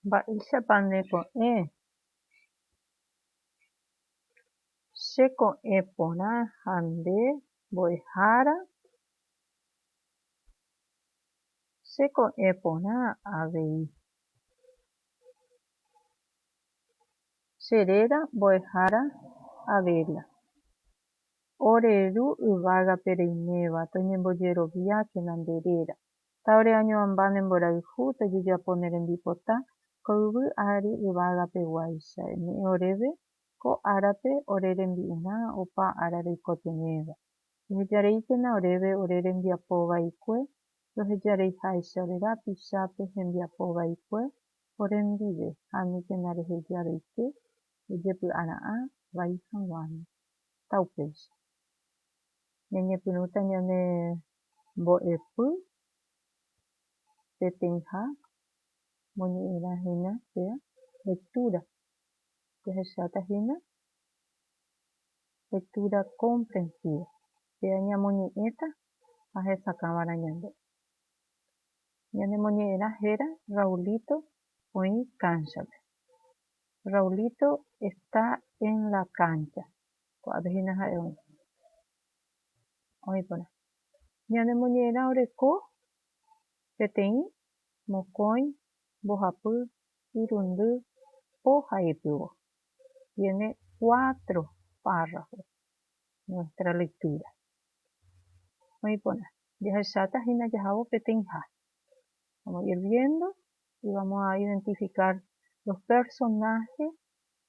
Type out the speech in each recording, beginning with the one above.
Mba'éichapa nde ko'ẽ? Che ko'ẽ porã ha nde mbo'ehára? Che ko'ẽ porã avei. Che réra mbo'ehára Abela. Ore ru yvágape reiméva toñembojeroviákena nde réra. Ha ore añoamba ne mborayhu tojejapo ne rembipota ko yvy ári yvága peguáicha, eme'ẽ oréve ko árape ore rembi'urã opa ára reikotevẽva. Ehejareíkena oréve ore rembiapo vaikue, rohejareiháicha ore rapichápe hembiapo vaikue ore ndive, ha aníkena reheja reike ejepy'ara'ã vai haguãme. Ta upéicha. Ñañepyrũta ñane Mbo'epy peteĩha moñe'ẽrã hína pe lectura. Jahecháta hína lectura comprensiva, péa ñamoñe'ẽta ha hesakãva'erã ñande. Ñanemoñe'ẽrã héra Raulito oĩ kánchape. Raulito está en la cancha. Ko'ápe hína ha'e oĩ. Oĩ porã. Ñane moñe'ẽrã oreko peteĩ mokõi mbohapy irundy po ha ipyvo. Tiene cuatro párrafos nuestra lectura. Oĩ porã. Jahecháta hína jahávo peteĩha. Vamos a ir viendo y vamos a identificar los personajes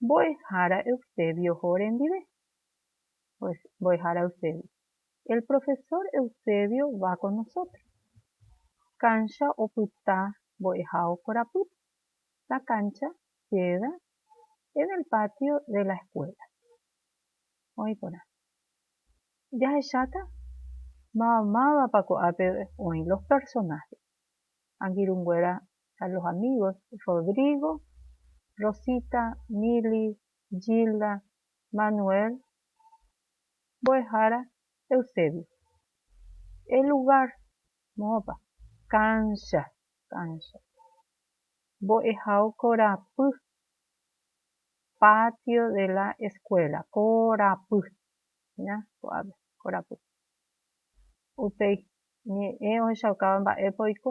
Mbo'ehára Eusebioho rendive. Pues, mbo'ehára Eusebio. El profesor Eusebio va con nosotros. Cancha opyta mbo'ehao korapýpe. La cancha queda en el patio de la escuela. Oĩ porã. Jahecháta máva mávapa ko'ápe oĩ los personajes. Angirũnguéra ha los amigos Rodrigo, Rosita, Mili, Gilda, Manuel, mbo'ehára Eusebio. El lugar, moõpa? Cancha, cancha. Mbo'ehao korapy, patio de la escuela, korapy, ña, ko'ápe, korapy. Upéi ñe'ẽ ohechaukáva mba'épa oiko,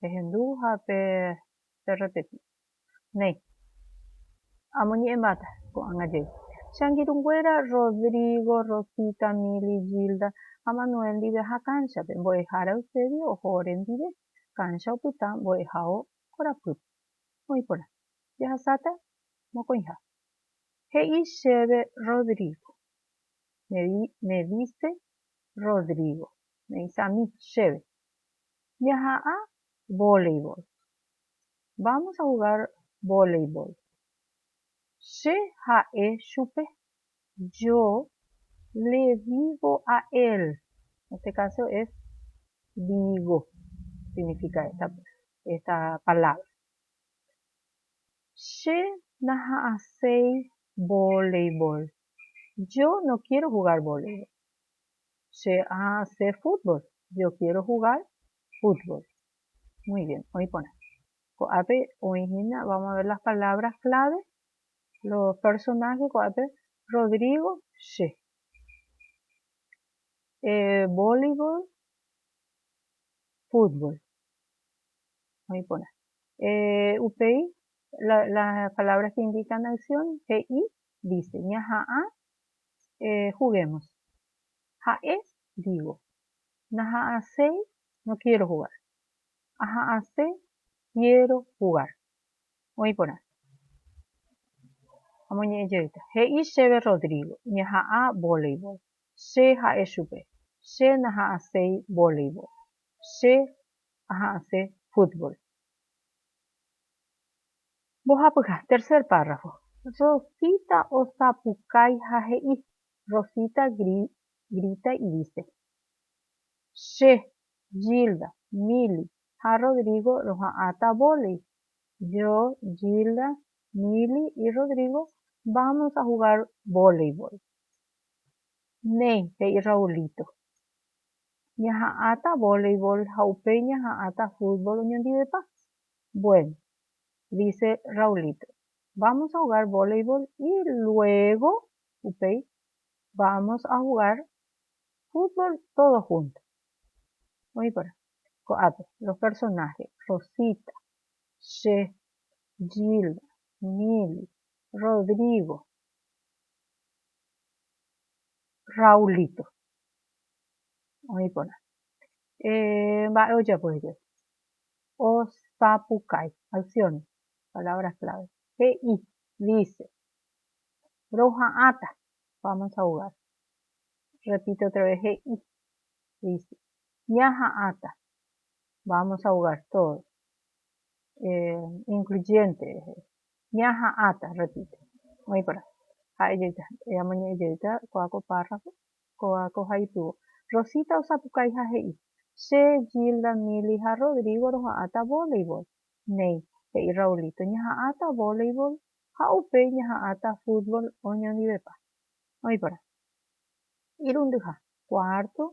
Pehendu ha perrepeti. Néi. Amoñe'ẽmbáta ko'ág̃a jey. Che angirũnguéra Rodrigo, Rosita, Mili, Gilda ha Manuel ndive aha kánchape. Mbo'ehára Eusebio oho orendive. Káncha opyta mbo'ehao korapýpe. Oĩ porã. Jahasáta mokõiha. He'i chéve Rodrigo. Me dice Rodrigo. Me dice a mí, chéve. Jaha'ã voleibol. Vamos a jugar voleibol. Che ha'e chupe. Yo le digo a él. En este caso es digo significa esta esta palabra. Che naha'ãséi voleibol. Yo no quiero jugar voleibol. Che ase fútbol. Yo quiero jugar fútbol. Muy bien. Oĩ porã. Ko'ápe oĩ hína, vamos a ver las palabras clave, los personajes ko'ápe, Rodrigo, che. Eh, voleibol, fútbol. Oĩ porã. Eh, upéi, la, las palabras que indican acción, he'i, dice, ñaha'ã juguemos. Ha'e, digo, naha'asei, no quiero jugar. Aha'ase, quiero jugar. Oĩ porã. Amoñe'ẽ jeýta. He'i chéve Rodrigo, ñaha'ã voleibol. Che ha'e chupe, Che naha'aséi voleibol. Che aha'ase fútbol. Mbohapyha, tercer párrafo. Rosita osapukái ha he'i, Rosita grita y dice, Che, Gilda, Mili ha Rodrigo roha'ãta vólei. Yo, Gilda, Mili y Rodrigo vamos a jugar voleibol. Néi, he'i Raulito. Ñaha'ãta voleibol ha upéi ñaha'ãta fútbol oñondivepa. Bueno, dice Raulito, vamos a jugar voleibol y luego upéi vamos a jugar fútbol todos juntos. Oĩ porã, ko'ápe los personajes, Rosita, che, Gilda, Mili, Rodrigo, Raulito. Oĩ porã. Eh, mba'e ojapo hikuái? osapukái, acción, palabras clave, he'i, dice, roha'ãta, vamos a jugar, repite otra vez, he'i, dice, ñaha'ãta, vamos a jugar todos, incluyente, ñaha'ãta, repite, oĩkorã, ha'e jeýta, amoñe'ẽ jeýta kua ko párrafo, Kóva ko ha ipyvo. Rosita osapukái ha he'i, Che, Gilda, Milly ha Rodrigo roha'ãta voleibol. Néi, he'i Raulito, ñaha'ãta voleibol ha upéi ñaha'ãta fútbol oñondivepa. Oĩ porã. Irundyha. Cuarto,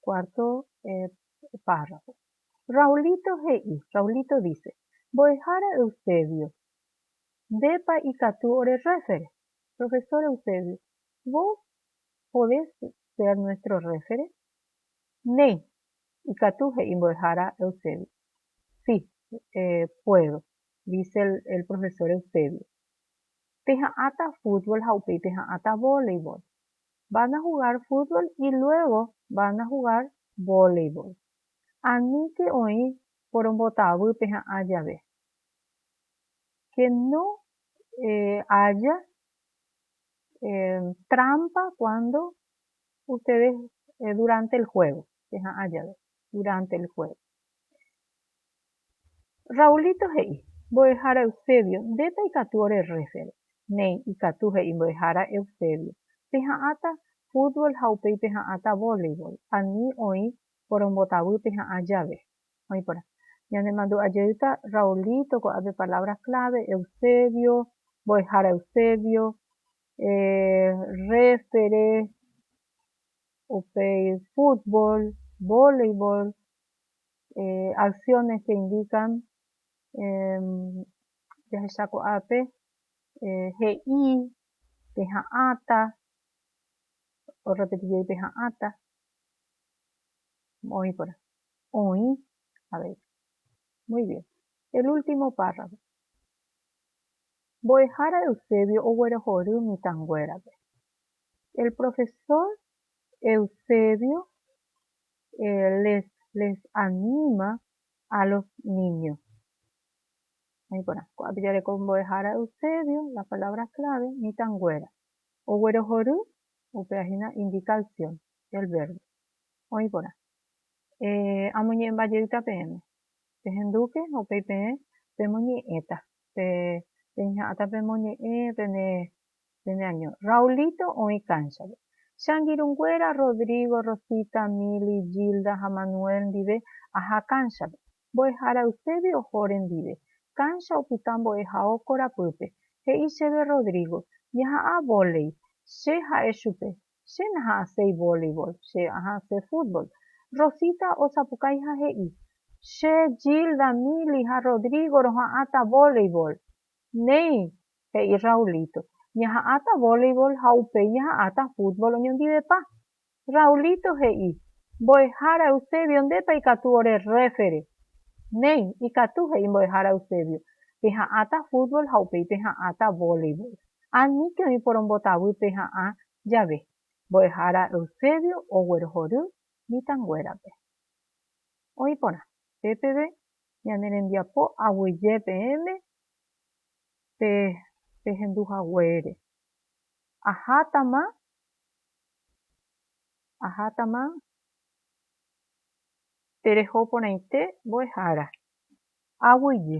cuarto párrafo. Raulito he'i, Raulito dice, Mbo'ehára Eusebio, Ndépa ikatu orerréfere? Profesor Eusebio, Vos podés ser nuestro réfere? Néi, ikatu he'i mbo'ehára Eusebio. Sí, puedo, dice el profesor Eusebio. Peha'ãta fútbol ha upéi peha'ãta voleibol. Van a jugar fútbol y luego van a jugar voleibol. Aníke oĩ porombotavy peha'ã jave. Que no haya Trámpa kuándo usted duránte el juego, cheha'ã jave, duránte el juego. Raulito he'i, Mbo'ehára Eusebio, ndépa ikatu ore rréfere. Néi, ikatu, he'i mbo'ehára Eusebio. Peha'ãta fútbol ha upéi peha'ãta voleibol, ani oĩ porombotavy peha'ã jave. oĩporã. Ñanemandu'a jeýta Raulito ko'ápe palabras clave, Eusebio, mbo'ehára Eusebio, rréfere, upéi fútbol, voleibol, acciones que indican jahecha ko'ápe he'i, peha'ãta, orrepeti jey peha'ãta, oĩporã. Oĩ avei. Muy bien. El último párrafo. Mbo'ehára Eusebio oguerohory mitãnguérape. El profesor Eusebio les les anima a los niños. Oĩ porã. Ko'ápe jareko mbo'ehára Eusebio, las palabras clave, mitãnguéra. Oguerohory, upéva hína indica acción, el verbo. Oĩ porã. Eh, amoñe'ẽmba jeýta peẽme. Pehendúke ha upéi peẽ pemoñe'ẽta. Pe, peicha'ãta pemoñe'ẽ pene, pene año. Raulito oĩ kánchape. Che angirũnguéra Rodrigo, Rosita, Mili, Gilda ha Manuel ndive aha kánchape. Mbo'ehára Eusebio oho rendive. Kánsha opyta mbo'ehao korapýpe. He'i chéve Rodrigo, Ñaha'ã vólei. Che ha'e chupe, Che naha'ãséi volleyball, che aha'ãse fútbol. Rosita osapukái ha he'i, Che, Gilda, Mili ha Rodrigo roha'ãta volleyball. Néi, he'i Raulito, ñaha'ãta volleyball ha upéi ñaha'ãta fútbol oñondivepa. Raulito he'i, Mbo'ehára Eusebio ndépa ikatu ore rréfere. Néi, ikatu, he'i Mbo'ehára Eusebio, peha'ãta fútbol ha upéi peha'ãta volleyball. aníke oĩ porombotavýpe ha'ã jave. Mbo'ehára Eusebio oguerohory mitãnguérape. Oĩ porã, pe peve ñane rembiapo aguyje peẽme pe pehendu haguére. Ahátama, ahátama tereho porãite mbo'ehára aguyje.